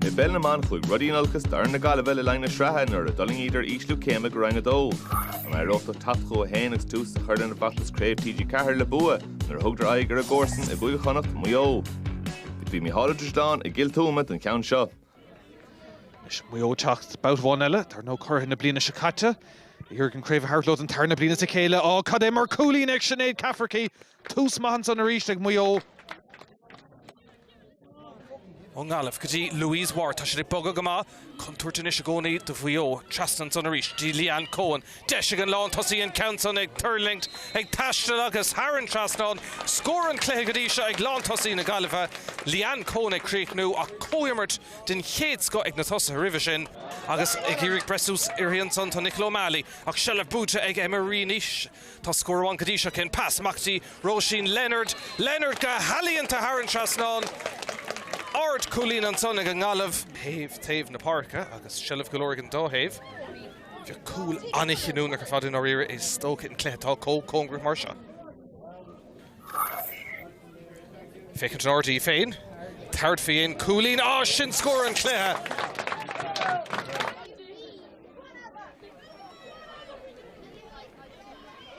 I bpeil na mban chuaigh rudaí in olcas d'fhoireann na Gaillimhe le linn na sraithe nuair a d'fhulaingíodar ísliú céime go Roinn 2. An éireodh leo teacht chucu féin agus tús a chur lena bhfeachtas Craobh TG4 le bua nuair a thugadar aghaidh ar a gcomharsain i gCúige Chonnacht, Maigh Eo. Bhí Micheál Ó Drisleáin i gCill Tuama don cheann seo. Anois Maigh Eo teacht babhta amháin eile tar nó curaithe na bliana seo caite. Iarraidh an craobh a thabhairt leo den tarna bliain as a chéile. Á cad é mar cúilín ag Sinéad Cafferky! Tús maith ansan arís ag Maigh Eo. Ón nGaillimh go dtí Louise Ward, tá siad ag bogadh go maith. Contúirt anois i gcónaí do Mhaigh Eo. Trasna ansan arís go dtí Leanne Coen. Deis ag an lántosaí an ceann san ag tuirlingt, ag taisteal agus thar an trasnán. Scór an chluiche go dtí seo ag lántosaí na Gaillimhe. Leanne Coen ag críochnú ach comhimirt den chéad scoth ag na tosaithe roimhe sin. Agus ag iarraidh breith suas uirthi ansan tá Nicola O'Malley ach seilbh buaite ag Emma Reaney. Tá scór amháin go dtí seo aici féin, pas amach go dtí, Róisín Leonard, Leonard go healaíonta thar an trasnán, ard cúilín ansan ag an nGaillimh, ó thaobh taobh na páirce agus seilbh go leor ag an dá thaobh, bheadh cúl an-chinniúnach ar fad i ndáiríre is dócha i gcluiche atá comh cóngarach mar seo. Féachaint in airde í féin, tabhairt fén gcúilín, á sin scór an chluiche!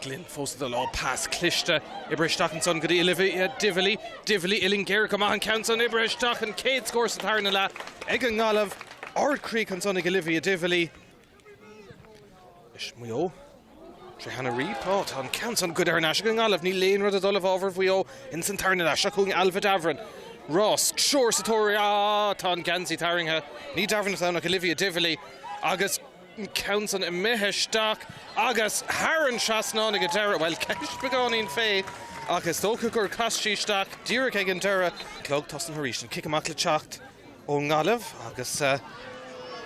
Glynn fós ag dul á pas cliste. Oibrithe isteach ansan go dtí Olivia Divilly. Divilly uillinn géar go maith an ceann san. Oibrithe isteach an chéad scór sa tarna leath ag an nGaillimh. Ardchríoch ansan ag Olivia Divilly. Is Maigh Eo tré Hannah Reape. Ó tá an ceann san goidte thar n-ais ag an nGaillimh. Níl aon rud ag dul i bhfabhar Mhaigh Eo ins an tarna leath. Seo chugainn Ailbhe Davoren. Agus triúr sa tóir. Á tá an geansaí tarraingthe. Ní Davoren atá ann ach Olivia Divilly agus an ceann san imithe isteach agus thar an trasnán ag an deireadh. Bhuel, ceist beagáinín fé, ach is dócha gur chas sí isteach díreach ag an deireadh. Clog tosaithe arís, an cic amach le teacht ón nGaillimh agus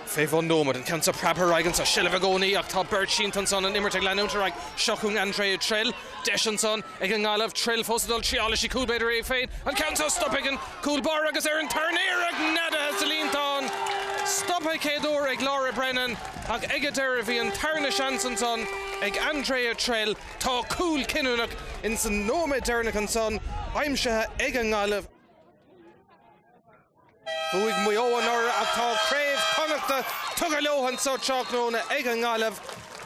fé bhun nóiméad, an ceann seo preabtha ar aghaidh anseo. Seilbh i gcónaí ach tá beirt sínte ansan, an imirt ag leanúint ar aghaidh. Seo chugainn Andrea Trill. Deis ansan ag an nGaillimh Trill fós ag dul triailfidh sí, cúl b'fhéidir í féin an ceann seo stoptha ag an gcúl báire agus ar an tarna iarracht neadaithe sa líontán. Stoptha céad uair ag Laura Brennan ach ag an deireadh bhí an tarna seans ansan ag Andrea Trill. Tá cúl cinniúnach in san nóiméad deireanach ansan aimsithe ag an nGaillimh. Bhuaigh Maigh Eo anuraidh ach tá craobh Chonnacht tugtha leo anseo tráthnóna ag an nGaillimh.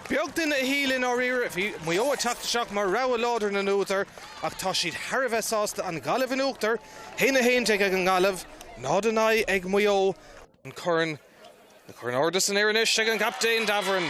Beag duine a shíl i ndáiríre bhí Maigh Eo ag teacht isteach mar rogha láidir na n-údar ach tá siad thar a bheith sásta an Ghaillimh in uachtar 1-11 ag an nGaillimh, 0-9 ag Maigh Eo, an corn. An corn ardaithe san aer anois ag an gcaptaen, Davoren.